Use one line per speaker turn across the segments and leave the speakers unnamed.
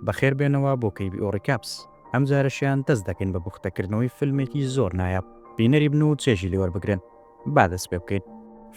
بەخێر بێنەوە بۆ کەیبی ئۆڕیکاپس. ئەم جارەشیان دەست دەکەین بە بوختە کردنەوەی فیلمێکی زۆر نایاب. بینەری بن و چێژی لێ وەربگرن. با دەست پێ بکەین.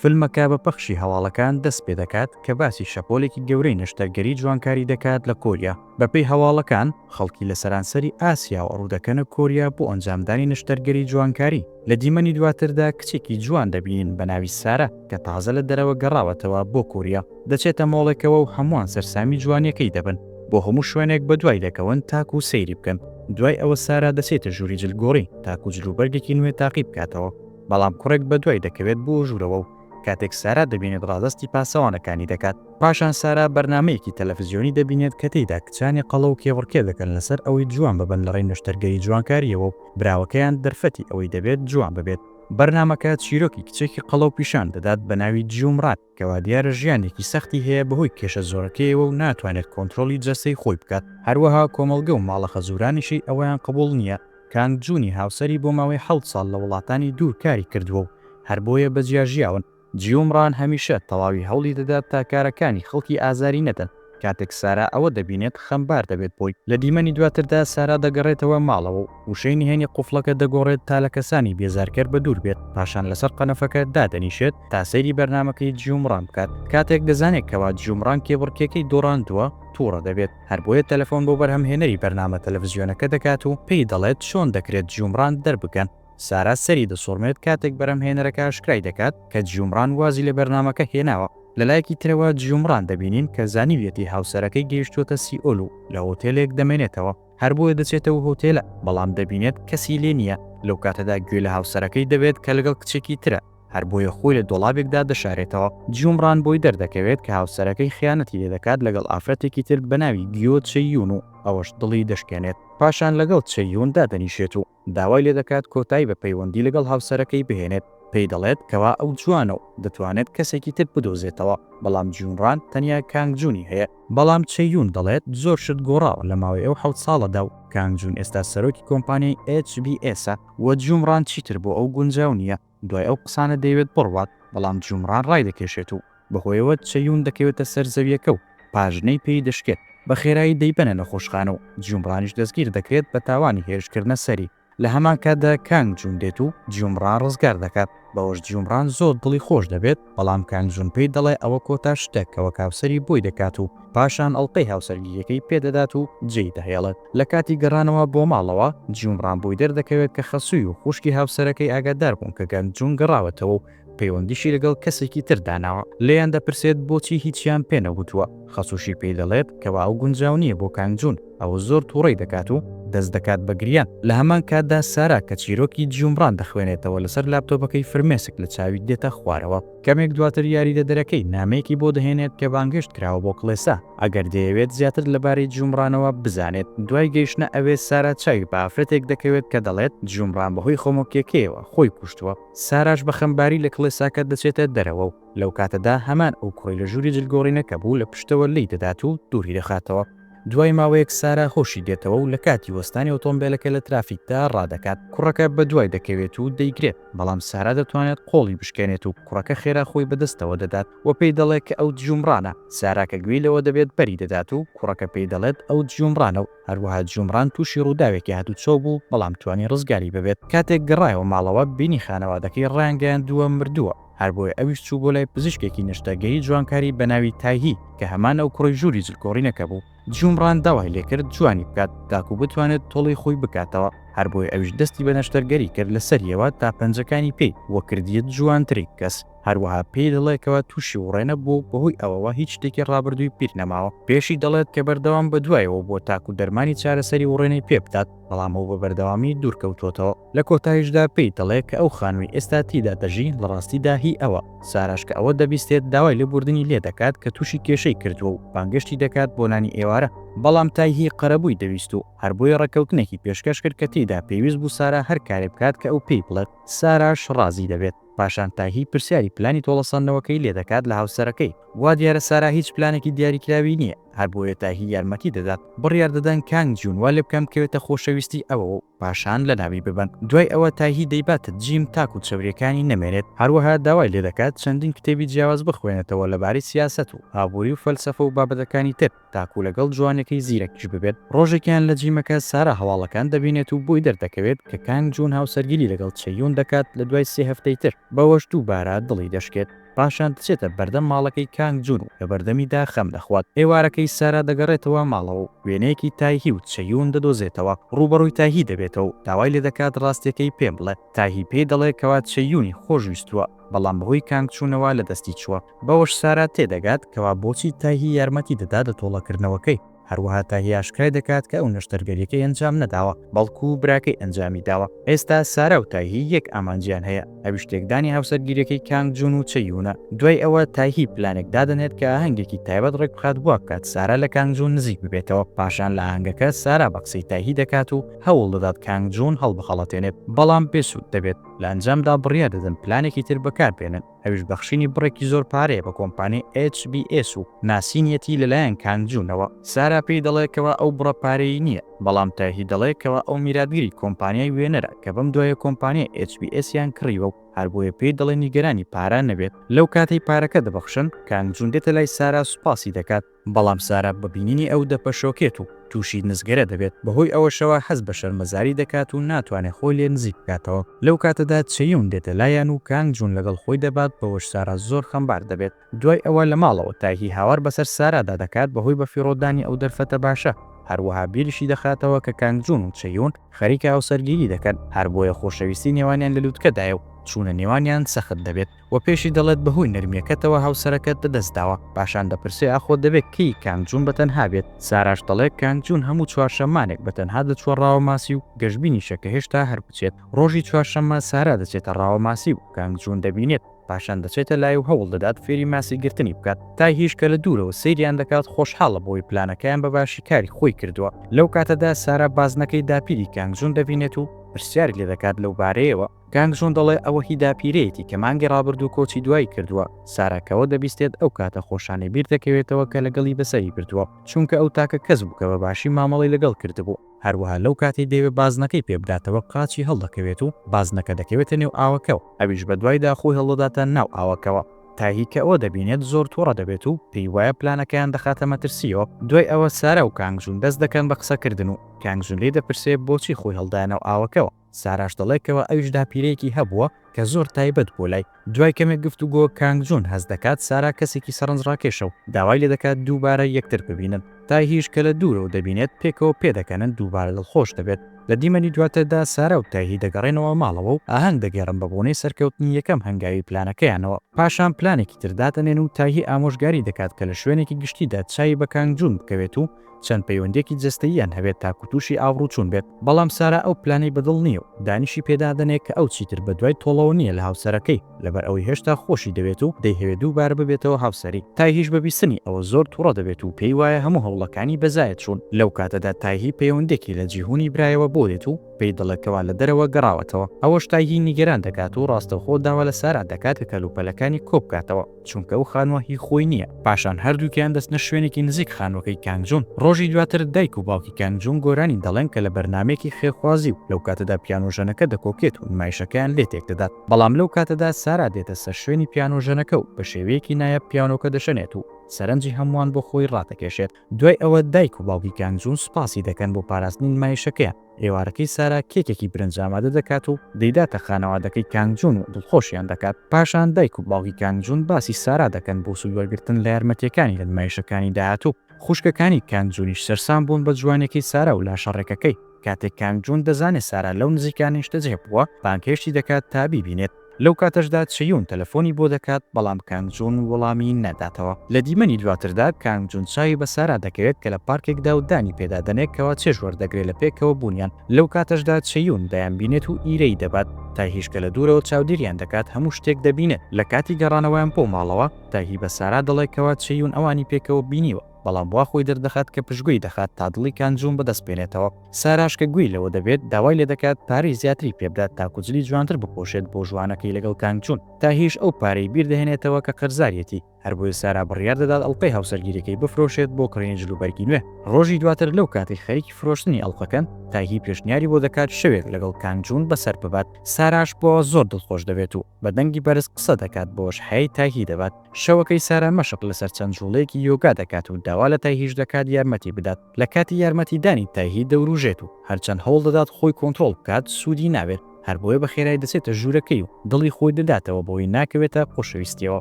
فیلمەکە بە پەخشی هەواڵەکان دەست پێ دەکات کە باسی شەپۆلێکی گەورەی نەشتەرگەری جوانکاری دەکات لە کۆریا. بە پێی هەواڵەکان، خەڵکی لە سەرانسەری ئاسیا ڕوو دەکەنە کۆریا بۆ ئەنجامدانی نەشتەرگەری جوانکاری. لە دیمەنی دواتردا کچێکی جوان دەبینین بە ناوی سارا کە تازە لە دەرەوە گەڕاوەتەوە بۆ کوریا، دەچێتە مۆڵێکەوە و هەمووان سەرسامی جوانییەکەی دەبن، بۆ هەموو شوێنێک بەدوای دەکەون تاکوو سەیری بکەن، دوای ئەوە سارا دەچێتە ژووری جلگۆڕین تاکوو جلوبەرگێکی نوێ تاقی بکاتەوە، بەڵام کوڕێک بەدوای دەکەوێت بۆ ژوورەوە و کاتێک سارا دەبینێت ڕادەستی پاسەوانەکانی دەکات. پاشان سارا بەرنامەیەکی تەلەفزیۆنی دەبینێت کە تێیدا کچانی قەڵەو کێبڕکێ دەکەن لەسەر ئەوەی جوان ببن لەڕێی نەشتەرگەری جوانکارییەوە و براوەکەیان دەرفەتی ئەوەی دەبێت جوان ببێت. بەرنامەکە چیرۆکی کچێکی قەڵەو پیشان دەدات بە ناوی جیومرات کە وادیارە ژیانێکی سەختی هەیە بەهۆی کێشە زۆرەکەیەوە و ناتوانێت کۆنترۆڵی جەستەی خۆی بکات، هەروەها کۆمەڵگە و ماڵە خەزورانیشی ئەوەیان قبوڵ نییە، کانگ جونی هاوسەری بۆ ماوەی حەوت ساڵ لە وڵاتانی دوور کاری کردووە و هەر بۆیە بەجیا ژیاون. جیومڕان هەمیشە تەواوی هەوڵی دەدات تا کارەکانی خەڵکی ئازاری نەدەن، کاتێک سارا ئەوە دەبینێت خەمبار دەبێت بۆی. لە دیمەنی دواتردا سارا دەگەڕێتەوە ماڵەوە و وشەی نهێنی قوفڵەکە دەگۆڕێت تا لە کەسانی بێزارکەر بەدوور بێت، پاشان لەسەر قەنەفەکە دادەنیشێت تا سەیری بەرنامەکەی جیومڕان بکات، کاتێک دەزانێت کەوا جیومڕان کێبڕکێکەی دۆڕاندووە توڕە دەبێت، هەربۆیە تەلەفۆن بۆ بەرهەمهێنەری بەرنامە تەلەفزیۆنەکە دەکات و پێی دەڵێت چۆن دەکرێت جیومڕان دەربکەن. سارا سەری دەسوڕمێت کاتێک بەرهەمهێنەرەکە ئاشکرای دەکات کە جیومڕان وازی لە بەرنامەکە هێناوە، لەلایەکی ترەوە جیومڕان دەبینین کە زانیویەتی هاوسەرەکەی گەیشتووەتە سیئۆل و لە هۆتێلێک دەمێنێتەوە، هەر بۆیە دەچێتە و هۆتێلە، بەڵام دەبینێت کەسی لێ نییە، لەو کاتەدا گوێ لە هاوسەرەکەی دەبێت کە لەگەڵ کچێکی ترە، هەر بۆیە خۆی لە دۆڵابێکدا دەشارێتەوە، جیومڕان بۆی دەردەکەوێت کە هاوسەرەکەی خیانەتی لێ دەکات لەگەڵ ئافرەتێکی تر بەناوی گیۆ چێ یون و ئەوەش دڵی دەشکێنێت، پاشان لەگەڵ چێ یون دادەنیشێت و داوای لێ دەکات کۆتایی بە پەیوەندی لەگەڵ هاوسەرەکەی بهێنێت، پێی دەڵێت کەوا ئەو جوانە و دەتوانێت کەسێکی تر بدۆزێتەوە، بەڵام جیون ران تەنیا کانگ جونی هەیە. بەڵام چێ یون دەڵێت زۆر شت گۆڕاوە لە ماوەی ئەو حەوت ساڵەدا و کانگ جون ئێستا سەرۆکی کۆمپانیای ئێچ بی ئێسە و جیون ران چیتر بۆ ئەو گونجاو نییە. دوای ئەو قسانە دەیەوێت بڕوات، بەڵام جومڕان ڕایدەکێشێت و بەهۆیەوە چەیون دەکەوێتە سەر زەویەکە و پاژنەی پێی دەشکێت، بەخێرایی دەیبەنە نەخۆشخانە و جومڕانیش دەستگیر دەکرێت بە تاوانی هێرشکردنە سەری، لەهەمان کاتدا کانگ جون دێت و جومڕان ڕزگار دەکات، بەوەش جومڕان زۆر دڵی خۆش دەبێت. بەڵام کانگ جون پێی دەڵێ ئەوە کۆتا شتە کە وەک هاوسەری بۆی دەکات و پاشان ئەڵقەی هاوسەرگیریەکەی پێ دەدات و جێی دەهێڵێت لە کاتی گەڕانەوە بۆ ماڵەوە جیوم ڕام بۆی دەردەکەوێت کە خەسووی و خوشکی هاوسەرەکەی ئاگادار بوون کە گەنگ جون گەڕاوەتەوە و پەیوەندیشی لەگەڵ کەسێکی تر داناوە لێیان دەپرسێت بۆچی هیچیان پێ نەگوتووە. خەسوشی پێی دەڵێت کەوا ئەو گونجاو نییە بۆ کانگ جون، ئەوە زۆر توڕەی دەکات و دەست دەکات بە گریان، لە هەمان کاتدا سارا کە چیرۆکی جیومڕان دەخوێنێتەوە لەسەر لاپتۆپەکەی فرمێسک لە چاوی دێتە خوارەوە. کەمێک دواتر یاریدەدەرەکەی نامەیەکی بۆ دەهێنێت کە بانگهێشت کراوە بۆ کڵێسا ئەگەر دەیەوێت زیاتر لەبارەی جیومڕانەوە بزانێت، دوای گەیشتنە ئەوێ سارا چاوی بە ئافرەتێک دەکەوێت کە دەڵێت جیومڕان بەهۆی خۆمۆکیەکەیەوە خۆی کوشتووە، ساراش بە خەمباری لە کڵێساکە دەچێتە دەرەوە و. لەو کاتەدا هەمان ئەو کوڕی لە ژووری جلگۆڕینەکە بوو لە پشتەوە لێی دەدات و دووری دەخاتەوە. دوای ماوەیەک سارا هۆشی دێتەوە و لە کاتی وەستانی ئۆتۆمبێلەکە لە ترافیکدا ڕادەکات. کوڕەکە بەدوای دەکەوێت و دەیگرێت، بەڵام سارا دەتوانێت قۆڵی بشکێنێت و کوڕەکە خێرا خۆی بەدەستەوە دەدات و پێی دەڵێت کە ئەو دژومڕانە. سارا کە گوێی لەوە دەبێت بەری دەدات و کوڕەکە پێی دەڵێت ئەو دژومڕانە و هەروەها دژومڕان تووشی ڕووداوێکی هاتووچۆ بوو، بەڵام توانی ڕزگاری ببێت. کاتێک گەڕایەوە ماڵەوە بینی خانەوادەکەی ڕایانگەیاندووە مردووە. هەر بۆیە ئەویش چوو بۆ لای پزیشکێکی نەشتەرگەری جوانکاری بە ناوی تایهی کە هەمان ئەو کوڕی ژووری جلکۆڕینەکە بوو. جومڕان داوای لێ کرد جوانی بکات تاکوو بتوانێت تۆڵەی خۆی بکاتەوە، هەر بۆیە ئەویش دەستی بە نەشتەرگەری کرد لە سەرییەوە تا پەنجەکانی پێی و کردییە جوانترین کەس. هەروەها پێی دەڵێ کەوا تووشی وڕێنە بووە و بەهۆی ئەوەوە هیچ شتێکی ڕابردووی پیر نەماوە. پێشی دەڵێت کە بەردەوام بە دوایەوە بووە تاکوو دەرمانی چارەسەری وڕێنەی پێ بدات. بەڵام ئەو بە بەردەوامی دوورکەوتووەتەوە. لە کۆتاییشدا پێی دەڵێ کە ئەو خانووی ئێستا تیدا دەژی لە ڕاستیدا هی ئەوە. ساراش کە ئەوە دەبیستێت داوای لێبووردنی لێ دەکات کە تووشی کێشەی کردووە و بانگێشتی دەکات بۆ نانی ئێوارە، بەڵام تایهی قەرەبووی دەویست و هەر بۆیە ڕێککەوتنێکی پێشکەش کرد کە تێیدا پێویست بوو سارا هەر کارێ بکات کە ئەو پێی بڵێت. ساراش ڕازی دەبێت. پاشان تاهی پرسیاری پلانی تۆڵەسەندنەوەکەی لێدەکات لە هاوسەرەکەی، وا دیارە سارا هیچ پلانێکی دیاریکراوی نییە، هەربۆیە تاهی یارمەتی دەدات، بڕیار دەدەن کانگ جوون وا لێبکەن بکەوێتە خۆشەویستی ئەوەوە و پاشان لەناوی ببەن، دوای ئەوە تاهی دەیباتە جیم تاکو چەورییەکانی نەمێنێت، هەروەها داوای لێدەکات چەندین کتێبی جیاواز بخوێنێتەوە لەبارەی سیاسەت و ئابووری و فەلسەفە و بابەتەکانی تر. تاکو لەگەڵ جوانێکەی زیرەکیش ببێت، ڕۆژێکیان لە جیمەکە سارا هەواڵەکان دەبینێت و بۆی دەردەکەوێت کە کانگ جون هاوسەرگیری لەگەڵ چەییون دەکات لە دوای سێ هەفتەی تر، بەوەش دووبارە دڵی دەشکێت، پاشان دەچێتە بەردەم ماڵەکەی کانگ جون و لەبەردەمیدا خەم دەخوات، ئێوارەکەی سارا دەگەڕێتەوە ماڵەوە و وێنەیەکی تایهی و چەییون دەدۆزێتەوە، ڕووبەڕووی تایهی دەبێتەوە و داوای لێدەکات ڕاستیەکەی پێ بڵێت، تایهی پێی دەڵێت کەوا چەییونی خۆشویستووە، بەڵام بەهۆی کانگ چونەوە لەدەستی چووە. بەوەش سارا تێدەگات کەوا بۆچی تاهی یارمەتی دەدات لە تۆڵەکردنەوەکەی، هەروەها تاهی ئاشکرای دەکات کە ئەو نەشتەرگەریەکەی ئەنجام نەداوە، بەڵکو براکەی ئەنجامی داوە، ئێستا سارا و تاهی یەک ئامانجیان هەیە، ئەویش تێکدانی هاوسەرگیریەکەی کانگ جون و چە یونە، دوای ئەوە تاهی پلانێک دادەنێت کە ئاهەنگێکی تایبەت ڕێکبخات وابکات سارا لە کانگ جون نزیک ببێتەوە، پاشان لە ئاهەنگەکە سارا بە قسەی تاهی دەکات و هەوڵدەدات کانگ جون هەڵبخەڵەتێنێت، بەڵام بێ سود دەبێت، لە ئەنجامدا بڕیاردەدەن پلانێکی تر بەکاربێنن. ئەویش بەخشینی بڕێکی زۆر پارەیە بە کۆمپانیای ئێچ بی ئێس و ناسینیەتی لەلایەن کان جونەوە. سارا پێی دەڵێ کەوا ئەو بڕە پارەیی نییە، بەڵام تایهی دەڵێ کەوا ئەو میراتگری کۆمپانیای وێنەرە کە بەم دوایە کۆمپانیای ئێچ بی ئێسیان کڕیوە و هەر بۆیە پێی دەڵێ نیگەرانی پارە نەبێت. لەو کاتەی پارەکە دەبەخشن، کان جون دێتە لای سارا سوپاسی دەکات، بەڵام سارا بە بینینی ئەو دەپەشۆکێت و تووشی نزگەرە دەبێت، بەهۆی ئەوەشەوە هەست بە شەرمەزاری دەکات و ناتوانێت خۆی لێ نزیک بکاتەوە، لەو کاتەدا چەیون دێتە لایان و کانگ جون لەگەڵ خۆی دەبات، بەوەش سارا زۆر خەمبار دەبێت. دوای ئەوە لە ماڵەوە تایهی هاوار بەسەر سارادا دەکات بەهۆی بەفیڕۆدانی ئەو دەرفەتە باشە، هەروەها بیریشی دەخاتەوە کە کانگ جون و چەیون خەریکە هاوسەرگیری دەکەن، هەر بۆیە خۆشەویستی نێوانیان لە لوتکەدایە و چوونە نێوانیان سەخت دەبێت. و پێشی دەڵێت بەهۆی نەرمیەکەتەوە هاوسەرەکەت لەدەست داوە، پاشان دەپرسێ ئاخۆ دەبێ کەی کانگ جون بەتەنها بێت، ساراش دەڵێ کانگ جون هەموو چوارشەممانێک بەتەنها دەچووە ڕاوەماسی و گەشبینیشە کە هێشتا هەر بچێت، ڕۆژی چوارشەممە سارا دەچێتە ڕاوەماسی و کانگ جون دەبینێت، پاشان دەچێتە لای و هەوڵ دەدات فێری ماسی گرتنی بکات، تایهیش کە لە دوورەوە سەیریان دەکات خۆشحاڵە بەوەی پلانەکەیان بە باشی کاری خۆی کردووە، لەو کاتەدا سارا بازنەکەی داپیری کانگ جون دەبینێت و پرسیاری لێ دەکات لەو بارەیەوە، کانگ ژون دەڵێ ئەوە هی داپیرەیەتی کە مانگی ڕابردوو کۆچی دوایی کردووە، سارا کەوە دەبیستێت ئەو کاتە خۆشانەی بیر دەکەوێتەوە کە لەگەڵی بەسەری بردووە، چونکە ئەو تاکە کەس بوو کە بە باشی مامەڵەی لەگەڵ کردبوو، هەروەها لەو کاتەی دەیەوێت بازنەکەی پێ بداتەوە قاچی هەڵدەکەوێت و بازنەکە دەکەوێتە نێو ئاوەکەوە، ئەویش بە دوایدا خۆی هەڵدەداتە ناو ئاوەکەوە، تاهی کە ئەوە دەبینێت زۆر توڕە دەبێت و پێی وایە پلانەکەیان دەخاتە مەترسییەوە، دوای ئەوە سارا و کانگ ژون دەست دەکەن بە قسەکردن و کانگ ژون لێی دەپرسێ بۆچی خۆی هەڵدایە ناو ئاوەکەوە، ساراش دەڵێت کەوا ئەویش داپیرەیەکی هەبووە کە زۆر تایبەت بووە لای. دوای کەمێک گفتوگۆ، کانگ جون هەست دەکات سارا کەسێکی سەرنجڕاکێشە و داوای لێدەکات دووبارە یەکتر ببینن. تایهیش کە لە دوورەوە دەبینێت پێکەوە پێدەکەنن دووبارە دڵخۆش دەبێت. لە دیمەنی دواتردا سارا و تایهی دەگەڕێنەوە ماڵەوە و ئاهەنگ دەگێڕن بە بۆنەی سەرکەوتنی یەکەم هەنگاوی پلانەکەیانەوە. پاشان پلانێکی تر دادەنێن و تایهی ئامۆژگاری دەکات کە لە شوێنێکی گشتیدا چاوی بە کانگ جون بکەوێت و چەند پەیوەندیەکی جەستەییان هەبێت تاکو توشی ئاوڕوچون بێت، بەڵام سارا ئەو پلانەی بەدڵ نیە و دانیشی پێدادەنێ کە ئەو چیتر بەدوای تۆڵەوە نیە لە هاوسەرەکەی لەبەر ئەوەی هێشتا خۆشی دەوێت و دەیهەوێ دووبارە ببێتەوە هاوسەری، تایهیش بە بیستنی ئەوە زۆر توڕە دەبێت و پێی وایە هەموو هەوڵەکانی بەزایە چوون، لەو کاتەدا تایهی پەیوەندێکی لە جیهونی برایەوە بۆ دێت و پێی دەڵێ کەوا لە دەرەوە گەڕاوەتەوە، ئەوەش تایهی نیگەران دەکات و ڕاستەوخۆ داوا لە سارا دەکات کە کەلوپەلەکانی کۆبکاتەوە. چونکە ئەو خانووە هی خۆی نییە. پاشان هەردووکیان دەچنە شوێنێکی نزیک خانووەکەی کانگ جون. ڕۆژی دواتر دایک و باوکی کانگ جون گۆرانی دەڵێن کە لە بەرنامەیەکی خێرخوازی و لەو کاتەدا پیانۆ ژەنەکە دەکۆکێت و نمایشەکەیان لێ تێک دەدات. بەڵام لەو کاتەدا سارا دێتە سەر شوێنی پیانۆ ژەنەکە و بە شێوەیەکی نایاب پیانۆکە دەشەنێت و سەرنجی هەمووان بۆ خۆی ڕادەکێشێت. دوای ئەوە دایک و باوکی کان جون سوپاسی دەکەن بۆ پاراستنی نمایشەکەیان، ئێوارەکەی سارا کێکێکی برنج ئامادە دەکات و دەیداتە خانەوادەکەی کان جون و دڵخۆشیان دەکات، پاشان دایک و باوکی کان جون باسی سارا دەکەن بۆ سوود وەرگرتن لە یارمەتییەکانی لە نمایشەکانی داهاتوو، خوشکەکانی کان جونیش سەرسام بوون بە جوانییەکەی سارا و لاشە ڕێکەکەی، کاتێک کان جون دەزانێت سارا لەو نزیکانە نیشتەجێ بووە، بانگهێشتی دەکات تا بیبینێت. لەو کاتەشدا چیون تەلەفۆنی بۆ دەکات، بەڵام کانگ جون وەڵامی ناداتەوە. لە دیمەنی دواتردا کانگ جون چاوی بە سارا دەکەوێت کە لە پارکێکدا و دانی پێدا دەنێ کەوا چێژ وەردەگرێ لە پێکەوە بوونیان. لەو کاتەشدا چیون دەیانبینێت و ئیرەیی دەبات. تایهیش کە لە دوورەوە چاودێریان دەکات هەموو شتێک دەبینێت. لە کاتی گەڕانەوەیان بۆ ماڵەوە، تایهی بە سارا دەڵێ کەوا چیون ئەوانی پێکەوە بینیوە، بەڵام وا خۆی دەردەخات کە پشتگوێی دەخات تا دڵی کانگ جون بەدەست بێنێتەوە. ساراش کە گوێی لەوە دەبێت داوای لێدەکات پارەی زیاتری پێبدات تاکو جلی جوانتر بپۆشێت بۆ ژوانەکەی لەگەڵ کانگ چون تاهیش ئەو پارەی بیردەهێنێتەوە کە قەرزاریەتی هەربۆیە سارا بڕیار دەدات ئەڵقەی هاوسەرگیریەکەی بفرۆشێت بۆ کڕینی جل و بەرگی نوێ ڕۆژی دواتر لەو کاتەی خەریکی فرۆشتنی ئەڵقەکەن تاهی پێشنیاری بۆ دەکات شەوێک لەگەڵ کانگ جون بەسەر ببات ساراش بۆوە زۆر دڵخۆش دەبێت و بە دەنگی بەرز قسە دەکات بۆش هەیای تاهی دەبات شەوەکەی سارا مەشق لەسەر چەند جوڵەیەکی یۆگا دەکات و داوا لە تاهیش دەکات یارمەتی بدات. لە کاتی یارمەتیدانی تایهی دەوروژێت و هەرچەند هەوڵ دەدات خۆی کۆنترۆڵ بکات سوودی نابێت، هەر بۆیە بە خێرای دەچێتە ژوورەکەی و دڵی خۆی دەداتەوە بەوەی ناکەوێتە خۆشەویستییەوە.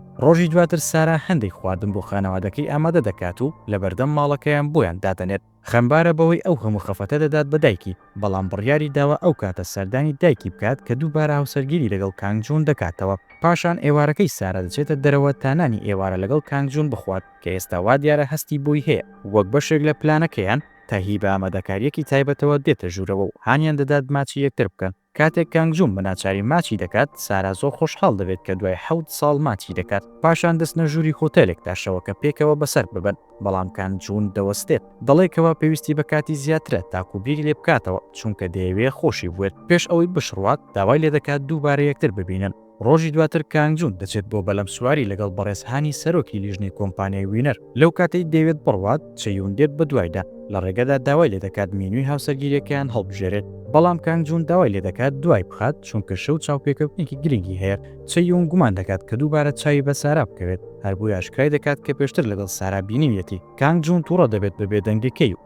ڕۆژی دواتر سارا هەندێک خواردن بۆ خانەوادەکەی ئامادە دەکات و لە بەردەم ماڵەکەیان بۆیان دادەنێت. خەمبارە بەوەی ئەو هەموو خەفەتە دەدات بە دایکی، بەڵام بڕیاری داوە ئەو کاتە سەردانی دایکی بکات کە دووبارە هاوسەرگیری لەگەڵ کانگ جون دەکاتەوە. پاشان ئێوارەکەی سارا دەچێتە دەرەوە تا نانی ئێوارە لەگەڵ کانگ جون بخوات. کە ئێستا وا دیارە هەستی بۆی هەیە وەک بەشێک لە پلانەکەیان، تاهی بە ئامادەکارییەکی تایبەتەوە دێتە ژوورەوە و هانیان دەدات ماچی یەکتر بکەن. کاتێک کانگ جوون بە ناچاری ماچی دەکات، سارا زۆر خۆشحاڵ دەبێت کە دوای حەوت ساڵ ماچی دەکات. پاشان دەچنە ژووری هۆتێلێک تا شەوەکە پێکەوە بەسەر ببەن، بەڵام کانگ جوون دەوەستێت، دەڵێت کەوا پێویستی بە کاتی زیاترە تاکوو بیری لێ بکاتەوە، چونکە دەیەوێت خۆشی بوێت. پێش ئەوەی بشڕوات، داوای لێ دەکات دووبارە یەکتر ببینن. ڕۆژی دواتر کانگ جون دەچێت بۆ بەلەم سواری لەگەڵ بەڕێز هانی سەرۆکی لیژنەی کۆمپانیای وینەر، لەو کاتەی دەیەوێت بڕوات، چەیون دێت بەدوایدا، لە ڕێگەدا داوای لێدەکات مینوی هاوسەرگیریەکەیان هەڵبژێرێت، بەڵام کانگ جون داوای لێدەکات دوای بخات، چونکە شەو چاوپێکەوتنێکی گرنگی هەیە، چەیون گومان دەکات کە دووبارە چاوی بە سارا بکەوێت، هەر بۆیە ئاشکرای دەکات کە پێشتر لەگەڵ سارا بینیویەتی، کانگ جون توڕە دەبێت بە بێدەنگەکەی و.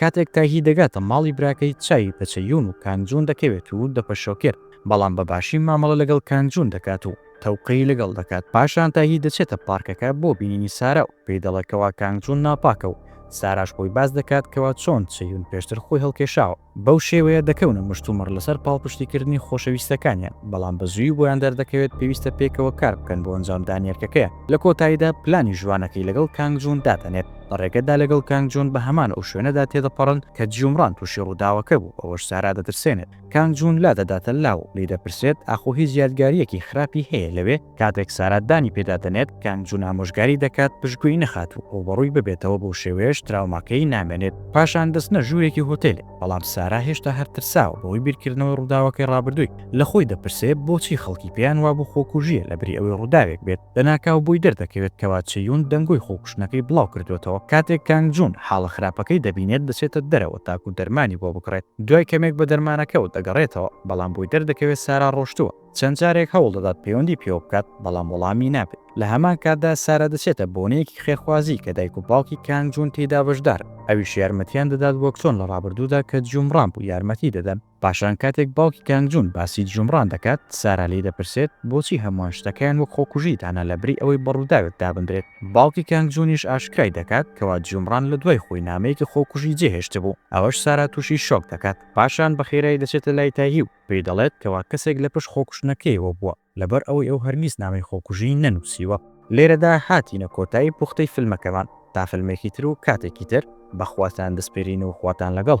کاتێک تاهی دەگاتە ماڵی براکەی چاوی بە چەیون و کانجون دەکەوێت و دەپە شۆکێر بەڵام بە باشی مامەڵە لەگەڵ کانجون دەکات و تەوقەی لەگەڵ دەکات پاشان تاهی دەچێتە پارکەکە بۆ بینینی سارا و پێی دەڵێ کەوا کانجون ناپاکە و ساراش بۆی باس دەکات کەوا چۆن چەیون پێشتر خۆی هەڵکێشاوە بەو شێوەیە دەکەونە مشتومڕ لەسەر پاڵپشتی کردنی خۆشەویستەکانیان بەڵام بە زووی بۆیان دەردەکەوێت پێویستە پێکەوە کار بکەن بۆ ئەنجام دانی ئەرکەکەیان لە کۆتاییدا پلانی ژوانەکەی لەگەڵ کانجون دادەنێت. لە ڕێگەدا لەگەڵ کانگ جون بە هەمان ئەو شوێنەدا تێدەپەڕن کە جیومڕان تووشی ڕووداوەکە بوو، ئەوەش سارا دەترسێنێت. کانگ جون لادەداتە لاو و لێی دەپرسێت ئاخۆ هیچ یادگارییەکی خراپی هەیە لەوێ؟ کاتێک سارا دانی پێدا دەنێت، کانگ جون ئامۆژگاری دەکات پشتگوێی نەخات و ڕووبەڕووی ببێتەوە بەو شێوەیەش تراوماکەی نامێنێت. پاشان دەچنە ژوورێکی هۆتێلێک. بەڵام سارا هێشتا هەر ترساوە بەهۆی بیرکردنەوەی ڕووداوەکەی ڕابردووی، لە خۆی دەپرسێ بۆچی خەڵکی پێیان وابوو خۆکوژییە لەبری ئەوەی ڕووداوێک بێت، لەناکاو بۆی دەردەکەوێت کەوا چییون دەنگۆی خۆکوشتنەکەی بڵاوکردووەتەوە، کاتێک کانگ جوون حاڵە خراپەکەی دەبینێت دەچێتە دەرەوە تاکو دەرمانی بۆ بکڕێت، دوای کەمێک بە دەرمانەکەوە دەگەڕێتەوە، بەڵام بۆی دەردەکەوێت سارا ڕۆشتووە. چەند جارێک هەوڵ دەدات پەیوەندی پێوە بکات، بەڵام وەڵامی نابێت. لە هەمان کاتدا سارا دەچێتە بۆنەیەکی خێرخوازی کە دایک و باوکی کانگ جون تێیدا بەشدارن، ئەویش یارمەتییان دەدات وەک چۆن لە ڕابردوودا کە جوومڕان بوو یارمەتی دەدەن. پاشان کاتێک باوکی کانگ جون باسی جوومڕان دەکات، سارا لێی دەپرسێت، بۆچی هەمووان شتەکەیان وەک خۆکوژی دانا لەبری ئەوەی بە ڕووداوێک دابندرێت؟ باوکی کانگ جونیش ئاشکرای دەکات کەوا جوومڕان لە دوای خۆی نامەیەکی خۆکوژی جێهێشتبوو، ئەوەش سارا تووشی شۆک دەکات. پاشان بەخێرایی دەچێتە لای تایهیو، پێی دەڵێت کەوا کەسێک لە پشت خۆکوشتنەکەیەوە بووە، لەبەر ئەوەی ئەو هەرگیز نامەی خۆکوژیی نەنووسیوە. لێرەدا هاتینە کۆتایی پوختەی فیلمەکەمان، تا فیلمێکی تر و کاتێکی تر، بە خواتان دەسپێرین و خواتان لەگەڵ.